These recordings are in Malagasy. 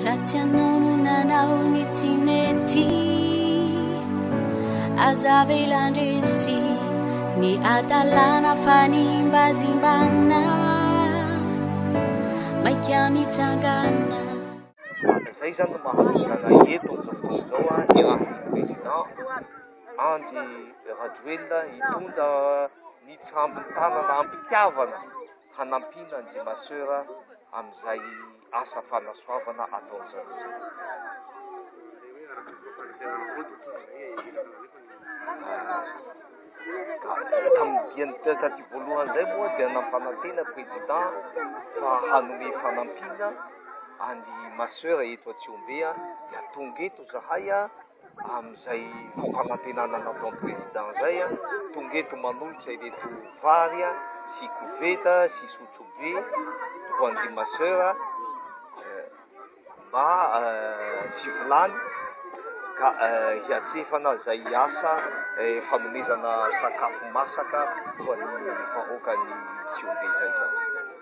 Raha tsy anao no nanao ny tsy mety Aza avela ndresy Ny adalana fanimbazimbana Maika mitsangana Izay izany no mahatonga anay eto amin'izao fotoana izao an, ny rafitra président Andry Rajoelina hitondra ny fambin-tanana am-pitiavana hanampiana ny Dimasera amin'izay asa fanasoavana ataon-dry zareo izay. Tamin'ny diany taty voalohany izay moa dia nampanantena prezida fa hanome fanampiana an'i Masera eto Atsihombe dia tonga eto izahay Amin'izay fampanantenana nataon'ny Président izay, tonga eto manolotra ireto vary sy koveta sy sotrobe ho an'ireo ma soeur mba fivolany ka hiatrefana izay asa fanomezana sakafo masaka ho an'ny vahoakan'i Tsiombe izay.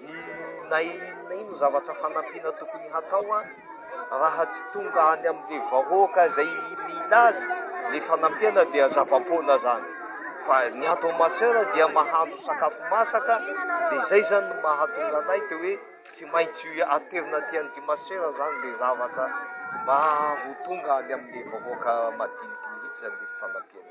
Inona inona ino zavatra fanampiana tokony hatao raha tsy tonga any amin'ilay vahoaka izay mila azy ilay fanampiana dia zava-poana izany fa ny ato Masera dia mahandro sakafo masaka dia izay izany no mahatonga anay dia hoe tsy maintsy aterina aty an'ity Masera izany ilay zavatra mba ho tonga any amin'ilay vahoaka madiniky mihitsy izany ilay fanampiana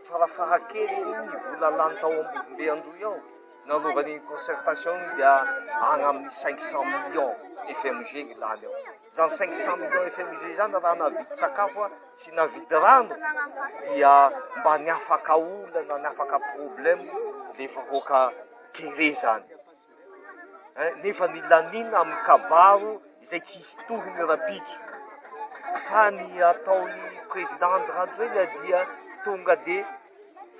Farafaha keliny ny vola lany tao Ambovombe Andohy ao nanaovana iny concertation iny dia any amin'ny cinq cent millions FMG ny lany ao. Izany cinq cent millions FMG izany raha nahavidy sakafo sy nahavidy rano dia mba ny afaka olana, ny afaka problème ilay vahoaka kere izany. nefa milamina amin'ny kabaro izay tsy hisy tohiny rahampitso fa ny ataon'ny président Andry Rajoelina dia tonga dia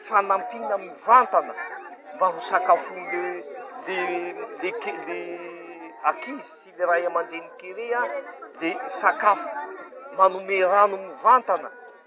fanampiana mivantana mba ho sakafon'le le le le akizy sy le ray aman-dreny kere dia sakafo manome rano mivantana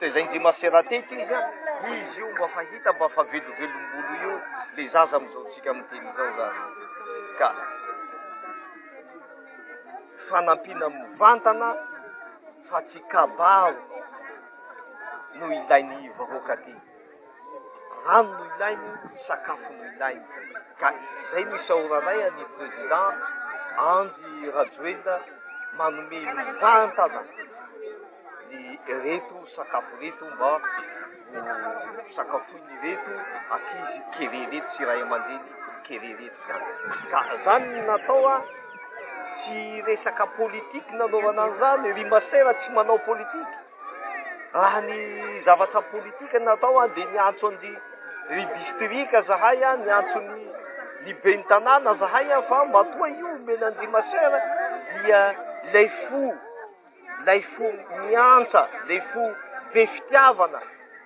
Taiza indry i Marcela teto izy an? Izy io mba fa hita mba fa velovelom-bolo io le zaza amin'izao tsika miteny izao za ka fanampiana mivantana fa tsy kabary no ilain'ny vahoaka aty. Rano no ilainy, sakafo no ilainy. Ka izay no isaoranay an'ny Président Andry Rajoelina manome mivantana ny ireto sakafo ireto mba ho sakafoin'ireto ankizy kely ireto sy ray aman-dreny kely ireto izany. Ka izany no natao an, tsy resaka politique nanaovana an'izany, ry masera tsy manao politique. Raha ny zavatra politika natao dia niantso an'i ry distrika zahay, niantso ny ny ben'ny tanàna zahay fa matoa io omena an'i ry maseur dia ilay fo, ilay fo miantsa, ilay fo be fitiavana.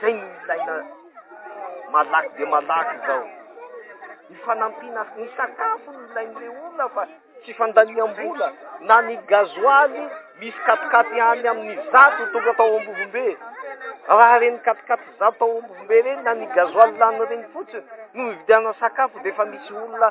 Zay no ilaina malaky dia malaky izao. Ny fanampiana ny sakafo no ilain'ireo olona fa tsy fandaniam-bola na ny gazoaly misy katikaty any amin'ny zato tonga tao Ambovombe. Raha reny katikaty zato tao Ambovombe reny na ny gazoaly lany reny fotsiny no vidiana sakafo dia efa misy olona